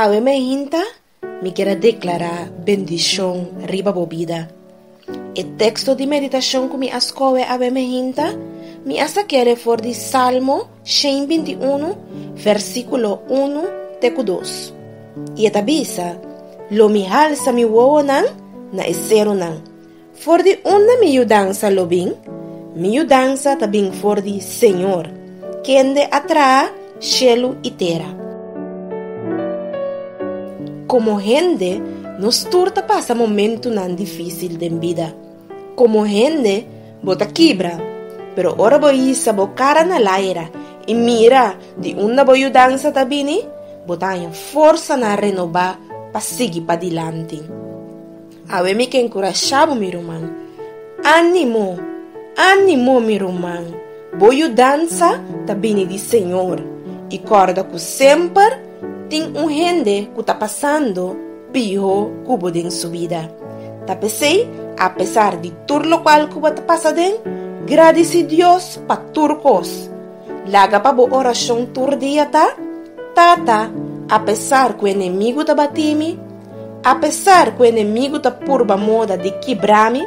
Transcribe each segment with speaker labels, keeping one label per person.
Speaker 1: Awe mi a hinta, mi kier a deklará bendishon riba bo bida. E teksto di meditashon ku mi a skohe awe mi a hinta, mi a sake'e den for di Salmo shen binti unu, vèrsikulo unu te ku dos. I e ta bisa, Lo mi halsa mi wowonan na e serunan. For di unda mi yu dansa lo bin? Mi yu dansa ta bin for di Señor, kende a traha shelu i tera. Komo hende, nos tur ta pasa momentunan difísil den bida. Komo hende, bo ta kibra. Pero ora bo hisa bo kara na laira i mira di unda bo yu dansa ta bini, bo ta haña forsanan renobá pa sigui padilanti. Awe mi ta enkurashá bo mi ruman. Ánimo! Ánimo, mi ruman! Bo yudansa ta bini di Señor. I kòrda ku semper tin un hende ku ta pasando piho ku bo den su bida. Ta p'esei, apesar di tur lokual ku bo ta pasa den, gradisí Dios pa tur kos. Laga pa bo orashon tur dia ta, Tata, apesar ku enemigu ta batí mi, Apesar ku enemigu ta purba moda di kibra mi,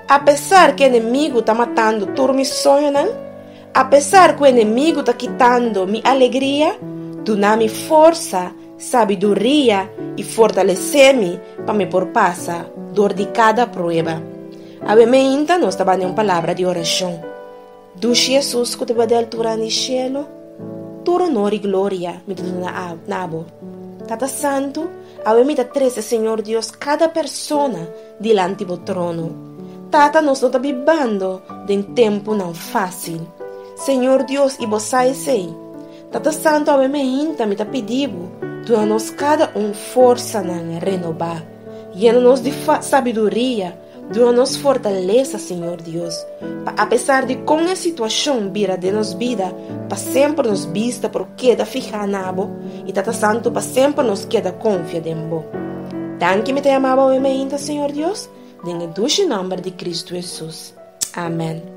Speaker 1: apesar ku enemigu ta matando tur mi soñonan, apesar ku enemigu ta kitando mi alegria, duna mi forsa, sabiduria i fortalesé mi pa mi por pasa dor di kada prueba. Awe meinta nos ta banda un palabra di orashon. Dushi Jesus ku tabata di altura di shelu, Tur onor i gloria mi ta duna na abo, Tata Santu, awe mi ta trese Señor Dios kada persona dilanti bo trono. Tata, nos no ta bibando den tempunan fásil, Señor Dios, i bo sa esei. Tata Santu, awe mi a hinta mi ta pidi bo, duna nos kada un forsanan renobá, yena nos di sabiduria, Duna nos fortalesa, Señor Dios, pa apesar di kon e situacion bira den nos bida, pa semper nos bista por keda fihá na Bo i Tata Santu pa semper nos keda konfia den Bo. Danki mi ta yama Bo awé mainta, Señor Dios, den e dushi nòmber di Kristu Hesus. Amèn.